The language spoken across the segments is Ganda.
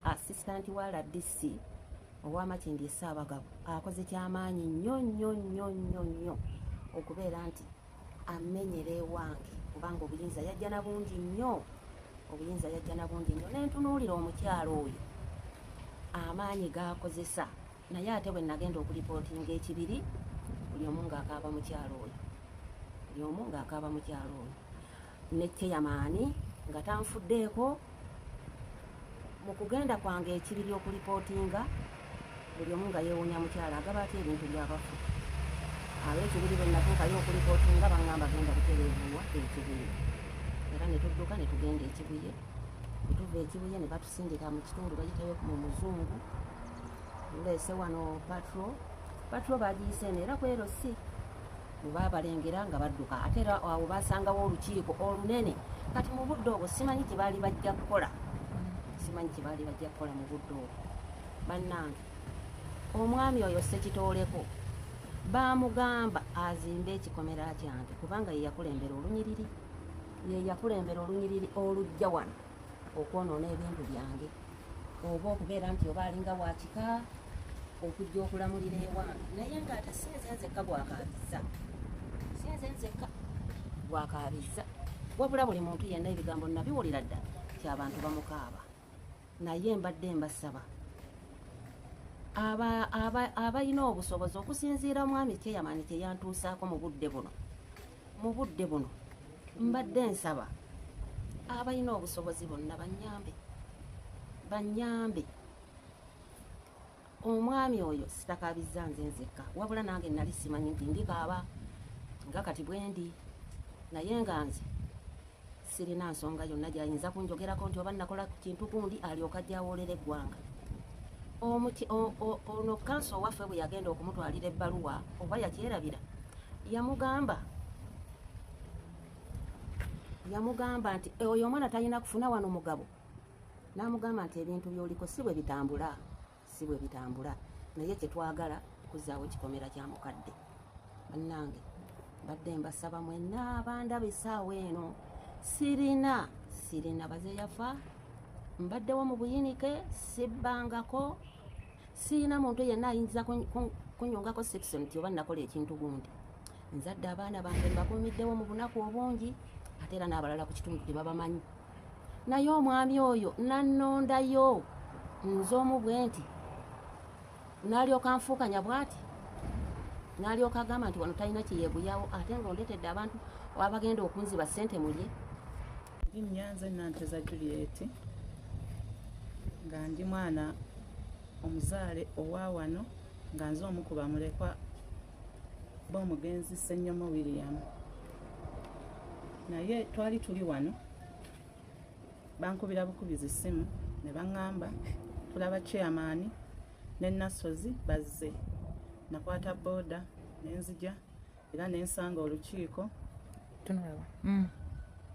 Assistant wa RDC owa Makindye Ssaabagabo akoze kyamaanyi nnyo nnyo nnyo nnyo nnyo okubeera nti amenyera ewange kubanga obuyinza yajja na bungi nnyo obuyinza yajja na bungi nnyo nentunuulira omukyalo oyo amaanyi gaakozesa naye ate bwe nagenda okulipootinga ekibiri buli omu ng'akaaba mukyalo oyo buli omu ng'akaaba mukyalo oyo ne ceyamaani nga tanfuddeeko mu kugenda kwange ekibiri okulipootinga buli omu nga yeewunya mukyala agaba atya ebintu byabafu abekibiri bwe natuukayo okulipootinga bangamba genda butereevuwa ekibiri era ne tudduka ne tugenda ekibuye ne tuva ekibuye ne batusindika mu kitundu bayitayo mu muzungu tuleese wano patro patro bagiyise eno era kwero si bwe baabalengera nga badduka ate era awo baasangawo olukiiko olunene kati mu budde obwo simanyi kye baali bajja kukola simanyi kye baali bajja kukola mu budde obwo bannange omwami oyo sekitooleko baamugamba azimbe ekikomera kyange kubanga ye yakulembera olunyiriri ye yakulembera olunyiriri olujja wano okwonoona ebintu byange oba okubeera nti oba alinga wakika okujja okulamulira ewange naye nga ate sinze nzekka gwakaabizza sinze nzekka gwakaabizza wabula buli muntu yenna ebigambo nabiwulira dda ti abantu bamukaaba naye mbadde mbasaba abalina obusobozi okusinziira omwami kyeyamani kyeyantuusaako mu budde buno mu budde buno mbadde nsaba abalina obusobozi bonna banyambe banyambe omwami oyo sitakabizza nze nzekka wabula nange nali simanyi nti ndikaaba nga kati bwendi naye nga nze sirina nsonga yonna gyayinza kunjogerako nti oba nakola kintu gundi alyoka jawolera eggwanga omuti ono kanso owaffe bwe yagenda okumutwalira ebbaluwa oba yakyerabira yamugamba yamugamba nti e, oyo omwana talina kufuna wano mugabo namugamba nti ebintu byoliko si bwe bitambula si bwe bitambula naye kyetwagala kuzaawo kikomera kya mukadde bannange mbadde mbasaba mwenna abandaba esaawa eno sirina sirina baze yafa mbaddewo mu buyinike sibbangako sirina muntu yenna ayinza kunyongako section ti oba nakola ekintu gundi nzadde abaana bange mbakumiddewo mu bunaku obungi ate era n'abalala ku kitundu tebabamanyi naye omwami oyo nannondayo nze omu bwe nti nalyoka nfuukanya bwati nalyoka agamba nti wano talina kyeyeguyawo ate nga ondetedde abantu abagenda okunziba ssente mulye nnyanze nanteza juliet nga ndi mwana omuzaale owa wano nga nze omu ku bamulekwa b'omugenzi Ssenyomo William naye twali tuli wano bankubira bukubizi ssimu ne baŋŋamba tulaba chairman ne Nassozi bazze nakwata booda nenzija era nensanga olukiiko mm.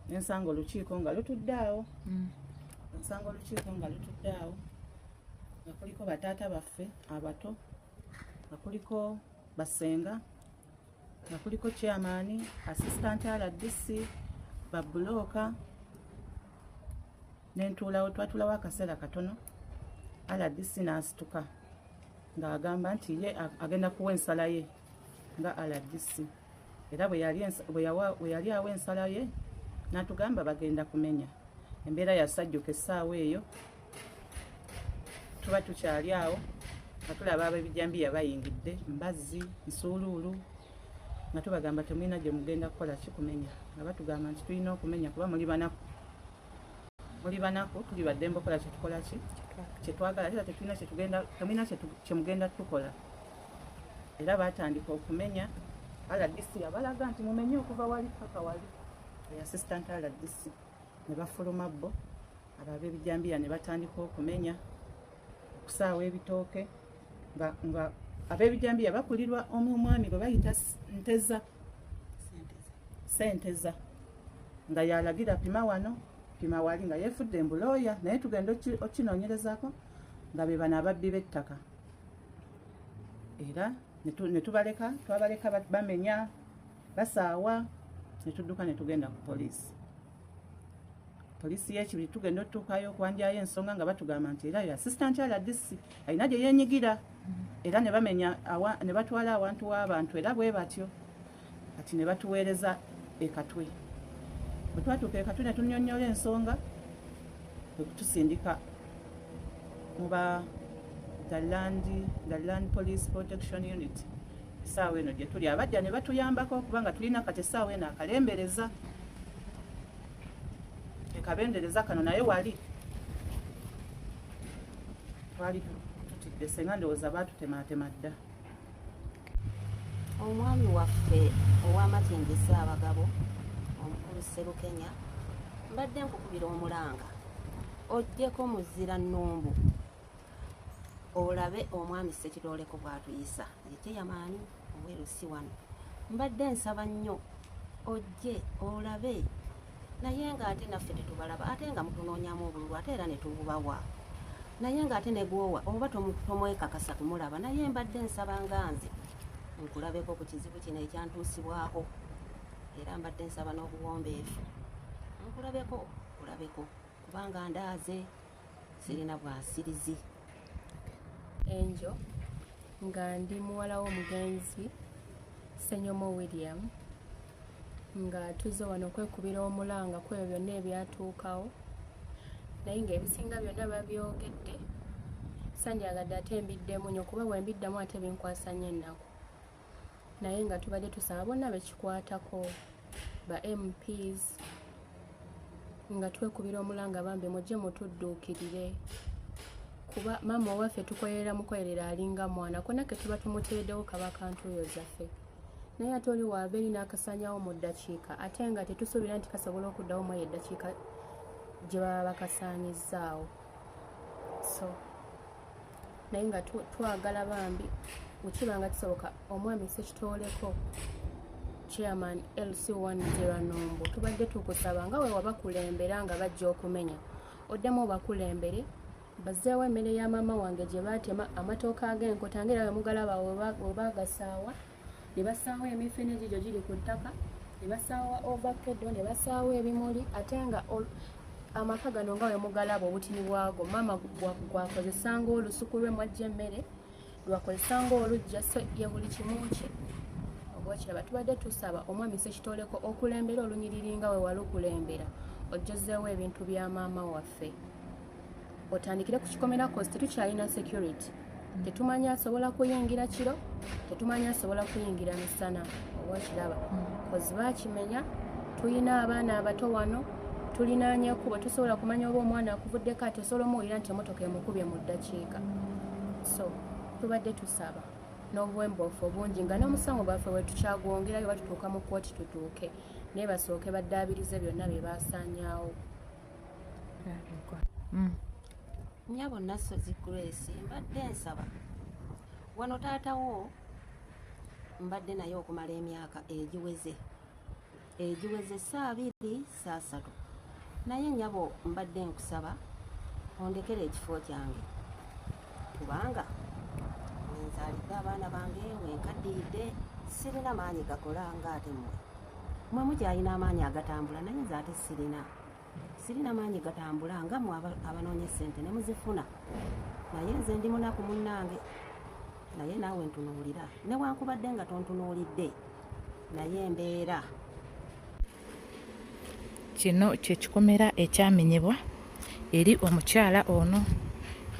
nensanga olukiiko nga lutudde awo mm. nsanga olukiiko nga lutudde awo nga kuliko bataata baffe abato nga kuliko basenga nga kuliko chairman assistant rdc babulooka nentuulawo twatulawo akaseera katono rdc n'asituka ng'agamba nti ye agenda kuwa ensala ye nga rdc era bwe yali awo ensala ye natugamba bagenda kumenya embeera yasajjuka essaawa eyo tuba tukyali awo nga tulaba abebijambiya bayingidde mbazzi nsuuluulu nga tubagamba temulina gye mugenda kukola kikumenya nga batugamba nti tulina okumenya kuba muli banaku muli banaku tuli baddembe okola kyetukola ki kyetwagala era tetulina kyetugenda temulina kyemugenda tukola era baatandika okumenya rdc yabalaga nti mumenye okuva wali paka wali eassistant rdc ne bafuluma bo abo ab'ebijambiya ne batandika okumenya okusaawa ebitooke nga ab'ebijambiya bakulirwa omu omwami gwe bayita nteza senteza nga yalagira pima wano pima wali nga yefudde embulooya naye tugenda okinonyerezako nga bebano ababbi b'ettaka era ne tubaleka twabaleka bamenya basaawa ne tudduka ne tugenda ku poliisi poliisi y'ekibiri tugenda otutuukayo okwanjayo ensonga nga batugamba nti era yo assistant rdc alina gye yenyigira era ne bamenya ne batwala awantu w'abantu era bwe batyo kati ne batuweereza ekatwe bwe twatuuka ekatwe ne tunyonnyola ensonga kwe kutusindika mu ba the land, the land police protection unit esaawa eno gye tuli abajja ne batuyambako kubanga tulina kati esaawa eno akalembereza ekabendereza kano naye wali twali tutidde senga ndowooza baatutemaatema dda omwami waffe ow'amatindi ssaabagabo omukulu sserukenya mbadde nkukubira omulanga ojjeko muzira nnumbu olabe omwami ssekirooleko bw'atuyisa yekyeyamanyi owerusi wano mbadde nsaba nnyo ojje olabe naye nga ate naffe tetubalaba ate nga mutunoonyamu obululu ate era netububawa naye nga ate negwowa oba tomwekakasa kumulaba naye mbadde nsaba nga nze nkulabeko ku kizibu kino ekyantuusibwako era mbadde nsaba n'obuwombeefu nkulabeko kulabeko kubanga ndaaze sirina bwasirizi enjo nga ndi muwala w'omugenzi senyomo william nga tuzze wano okwekubira omulanga kwebyo byonna ebyatuukawo naye ngaebisinga byonna babyogedde sanjagadde ate mbiddemu nyo kuba bwembiddamu ate binkwasanya ennaku naye nga tubadde tusaba bonna bekikwatako ba mps nga twekubira omulanga bambi mujje mutudduukirire kuba maama owaffe tukolerera mukolerera alinga mwana kona ke tuba tumuteedewo kaba kantuuyo zaffe naye ate oli waabeeri n'akasanyawo mu ddakiika ate nga tetusuubira nti kasobola okuddawo mu eyo eddakiika gye baba bakasaanyizzaawo so naye nga twagala bambi wekiba nga kisoboka omwami sekitoleko chairman lc one zeranombo tubadde tukusaba nga wewabakulembera nga bajja okumenya oddemu obakulembere bazeewo emmere ya maama wange gye baatema amatooka ag'enkota ngaera wemugalaba webagasaawa ne basaawo emifene egigyo giri ku ttaka ne basaawo ovakedo ne basaawo ebimuli ate nga amaka gano nga wemugalaba obutini bwago maama gwakozesa nga olusuku lwe mwajja emmere lwakozesa nga olujja so ye buli kimu kye obwakiraba tubadde tusaba omwami sekitoleko okulembera olunyiriri nga wewalukulembera ojjozeewo ebintu bya maama waffe otandikire ku kikomera kosi tetukyalina security tetumanyi asobola kuyingira kiro tetumanyi asobola kuyingira misana oba okiraba kozi bakimenya tulina abaana abato wano tulinanya ekubo tusobola kumanya oba omwana akuvuddeko ati osobola omuwulira nti emotoka emukubye mu ddakiika so tubadde tusaba n'obuwembofu obungi nga n'omusango gwaffe wetukyagwongerayo batutuuka mu kooti tutuuke naye basooke baddaabirize byonna bye basaanyaawo mm. nyabo nasozi grace mbadde nsaba wano taatawo mbadde naye okumala emyaka egiweze egiweze saabiri saasatu naye nyabo mbadde nkusaba ondekera ekifo kyange kubanga wenzaalidde abaana bange wenkaddiyidde sirina maanyi gakola nga ate mmwe mwe mukyalina amaanyi agatambula naye nze ate sirina sirina maanyi gatambula nga mwe abanoonya essente ne muzifuna naye nze ndi munaku munnange naye naawe ntunuulira newankubadde nga tontunuulidde naye embeera kino kyekikomera ekyamenyebwa eri omukyala ono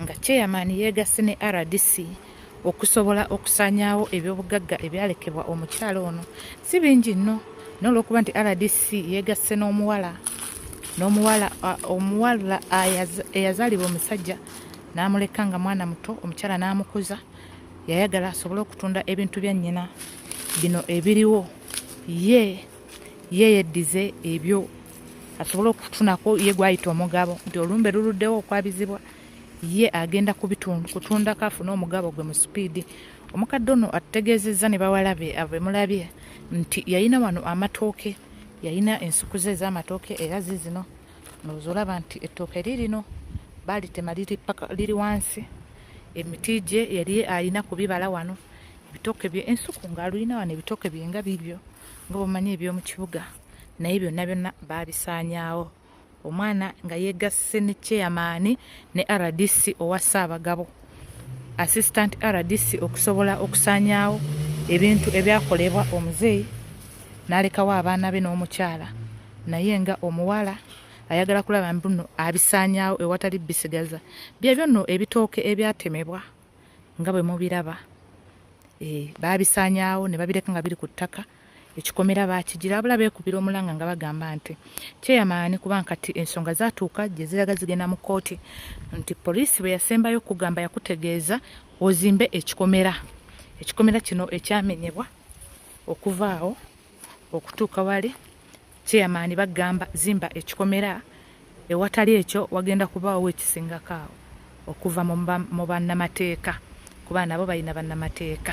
nga chairman yeegasse ne rdc okusobola okusaanyaawo ebyobugagga ebyalekebwa omukyala ono si bingi nno n'olwokuba nti rdc yeegasse n'omuwala n'omuwala omuwala eyazaalibwa omusajja n'amuleka nga mwana muto omukyala n'amukuza yayagala asobole okutunda ebintu bya nnyina bino ebiriwo ye ye yeddize ebyo asobole okutunako ye gwayita omugabo nti olumbe luluddewo okwabizibwa ye agenda kutundako afune omugabo gwe mu sipiidi omukadde ono atutegeezezza ne bawalabe abemulabye nti yalina wano amatooke yalina ensuku ze ez'amatooke era zizino noza olaba nti ettooke lirino balitema liri wansi emiti gye yali alina kubibala wano ebitooke bye ensuku ng'alulina wano ebitooke bye nga bibyo nga bwemanyi eby'omu kibuga naye byonna byonna baabisaanyaawo omwana nga yegasse ne cheyamaani ne rdc owa ssaabagabo assistant rdc okusobola okusaanyaawo ebintu ebyakolebwa omuzeeyi n'alekawo abaana be n'omukyala naye nga omuwala ayagala kulaba mbuno abisaanyaawo ewatali bisigaza byebyo nno ebitooke ebyatemebwa nga bwe mubiraba eh, baabisaanyaawo ne babireka nga biri ku ttaka ekikomera bakigira abula beekubira omulanga nga bagamba nti kyeyamaani kuba nkati ensonga zatuuka gye ziraga zigenda mu kkooti nti poliisi bwe yasembayo okugamba yakutegeeza ozimbe ekikomera ekikomera kino ekyamenyebwa okuvaawo okutuuka wali Chairman bagamba zimba ekikomera ewatali ekyo wagenda kubaawo ekisingako awo okuva mu bannamateeka kuba nabo balina bannamateeka.